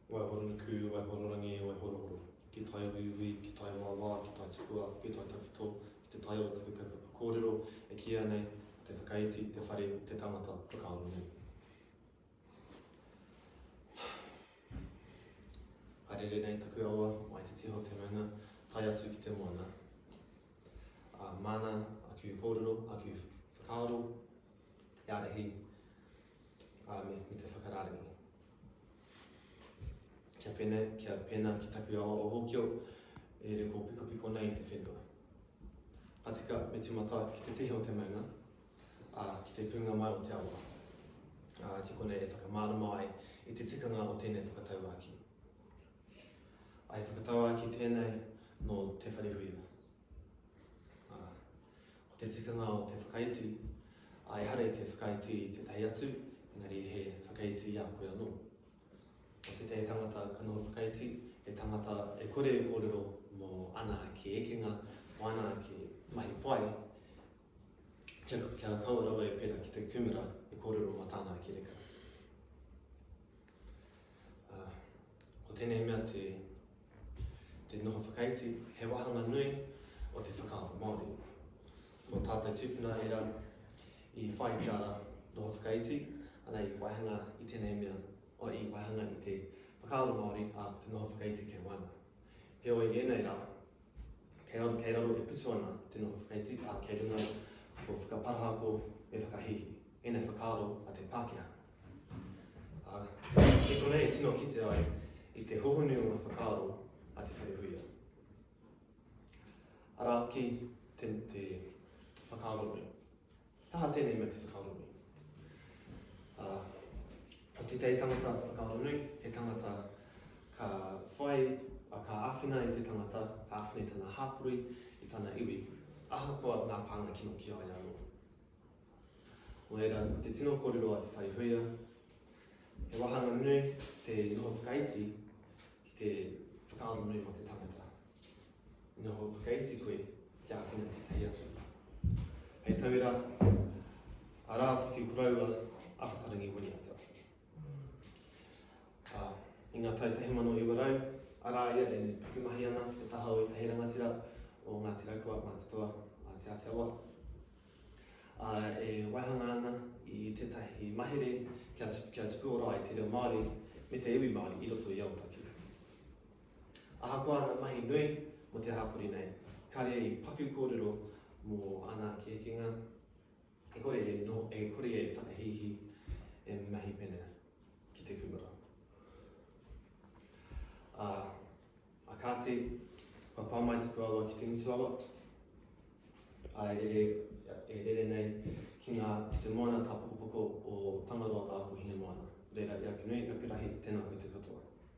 Waihoronukū, Waihororangi, Waihorohoro, ki tai uiui, ki tai wāwā, ki tai tukua, ki tai tawhito, ki te tai o taku kaupapa kōrero, e kīia nei, te whakaiti, te whare, te tangata, whakaaro nei. Haerere nei taku awa, mai te tiho te maunga, tai atu ki te moana. Uh, mana, aku kōrero, aku whakaaro, e arahi, ā, me, me te whakarārenga. Kia pēnā, kia pēnā ki taku awa o Hōkio, e re kō piko piko nei te whenua. Patika me timata ki te tihi o te maunga, ā, ki te pūnga mai o te awa. Ā, ki konei e whakamārama ai i te tikanga o tēnei whakatauāki. Ai whakatauāki tēnei nō Te Wharehuia. Ko te tikanga o te whakaiti, a ehara i te whakaiti i tētahi atu, engari he whakaiti i a koe anō. Ko tētahi tangata ka noho whakaiti, he tangata e kore e kōrero mō ana ake ekenga, mō ana ake mahi pai, kia, kia kaua rawa e pērā ki te kūmara e kōrero mō tāna ake reka. Ā, ko tēnei mea te, te noho whakaiti, he wāhanga nui o te whakaaro Māori. Ko tātou tūpuna era i whai tā noho whakaiti, ana i waihanga i tēnei mea, o i waihanga i te whakaaro Māori a te noho whakaiti kei waina. Heoi, ēnei rā, kei raro, kei raro e putu ana te noho whakaiti, ā, kei runga ko whakaparahako me whakahihi, ēnei whakaaro a te Pākehā. Ā, e konei e tino kite ai i te hohonu o ngā whakaaro a te whare huia. Arā hoki te, te whakaaro nei. Taha tēnei mea te whakaaro nei. Ā, ko te tei tangata whakaaro nei, he tangata ka whai, a ka āwhina i te tangata, ka āwhina i tana hāpori, i tana iwi, ahakoa ngā pānga kino ki a ia anō. Nō reira, ko te tino kōrero a Te Whaihuia, he wāhanga nui te noho whakaiti ki te whakaaro nui mō te tangata. I noho whakaiti koe ki āwhina tētahi atu. Hei tauira, arā ki kuraua Ahatarangi Winiata. Uh, I ngā tau 1900, arā ia e pukumahi ana te taha o ētahi rangatira o Ngāti Raukua, Mātatoa, Te Āti Awa, ā, e waihanga ana i tētahi mahere kia, kia tupuora ai te reo Māori me te iwi Māori i roto i Aotaki. Ahakoa ngā mahi nui mō te hapori nei, kāre i paku kōrero mō ana ake ekenga, e kore e, no, e kore e whakahīhī, e mahi pene ki te kūmara. Ā, A kāti, kua pā mai taku awa ki te ngutu awa, ā, e rere, e rere nei ki ngā, ki te moana tāpokopoko o Tangaroa rā ko Hinemoana. Reira, i aku nui, i aku rahi, tēnā koutou katoa.